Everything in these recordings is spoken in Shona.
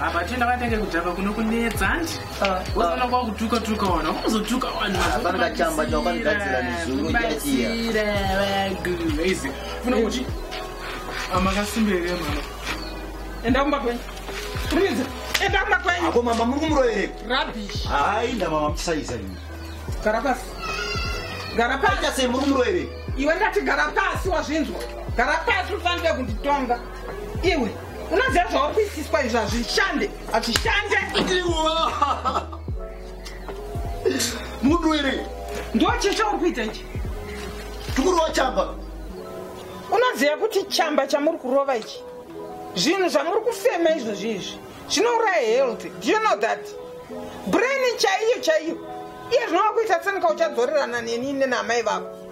apa tienda vatenge kujava kuno kunetsa handi uzoona kwakutuka tuka wana unozotuka wanabatsiraeaguizi amakasimbirere mama enda kumba kwenyu rinze enda kumba kwenyu ako mama muri kumuroyereko rabish hainda mama muchisaiza ini gara pasi gara pasi sei muri kumuroyereko iwe ndati gara pasi wazvinzwa gara pasi ufanire kunditonga iwe unoziva zvauri kuitiswa izvo hazvishande hazvishande munhu here ndocheshe uri kuita ichi tikurova chamba unoziva kuti chamba chamuri kurova ichi zvinhu zvamuri kufema izvozvi izvi zvinouraya health do you know that brain chaiyo chaiyo iye zvinova kuita senika uchadzorerana neni nenamai vako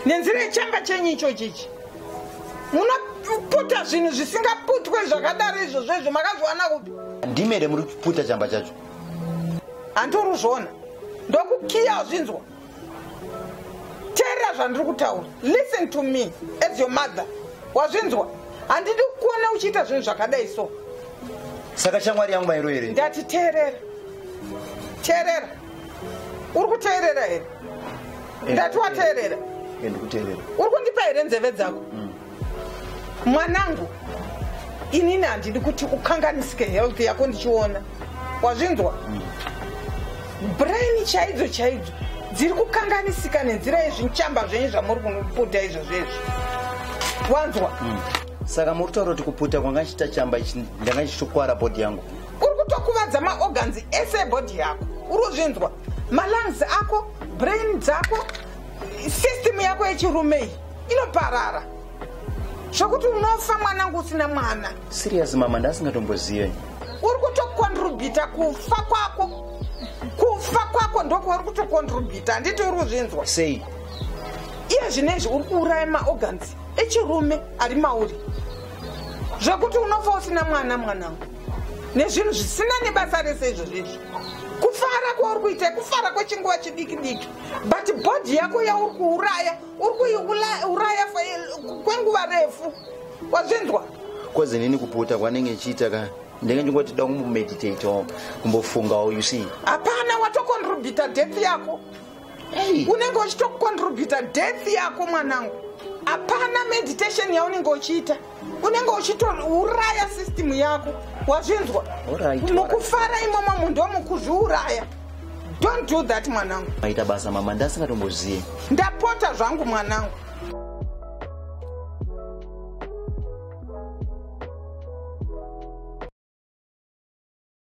nenzira yechamba chenyu ichochi ichi munoputa zvinhu zvisingaputwe zvakadaro izvozvo izvo makazviwana kupi ndimere muri kuputa chamba chacho handitori kuzviona ndokukiya wazvinzwa teerera zvandiri kutaura listen to me as your mother wazvinzwa handidi kuona uchiita zvinhu zvakadai so saka shamwari yangu mairo here ndati teerera teerera uri kuteerera here eh, ndati wateerera eh, uri kundipa here nzeve dzako mm. mwanangu inini handidi kuti ukanganisike health yako ndichiona wazvinzwa mm. brain chaidzo chaidzo dziri kukanganisika nenzira yezvinchamba zvenyu zvamuri kunoputa izvozvo izvi wanzwa mm. saka muri kutaura kuti kuputa kwanga chichita chamba ichi ndanga chichitokwara bhodhi yangu uri kutokuvadza maorgans ese ebody yako uri kuzvinzwa malungs ako brain dzako system yako yechirumei inoparara zvokuti unofa mwanangu usina mwana serious mama ndasingatombozive uri kutokontribita kufa kwako kufa kwako ndokwauri kutokontribita handiti uri kuzvinzwa sei iye zvine izvi uri kuuraya maorgans echirume ari mauri zvekuti unofa usina mwana mwanangu nezvinhu zvisina nebasa rese izvo zvezvo kufara kwauri kuita kufara kwechinguva chidiki diki but bhodhi yako yauri kuuraya uri kuiuraya kwenguva refu wazvinzwa kozi nini kuputa kwanenge ichiita ka ndenge ndingoti da kumbomeditate o kumbofungawo you see hapana watocontributa death yako unenge uchitocontributa death yako mwanangu hapana meditation yaunenge uchiita unenge uchitouraya system yako wazvinzwa mukufara imwomwo munhu ndomukuzviuraya don't do that mwanangu maita basa mama ndasingatombozivi ndapota zvangu mwanangu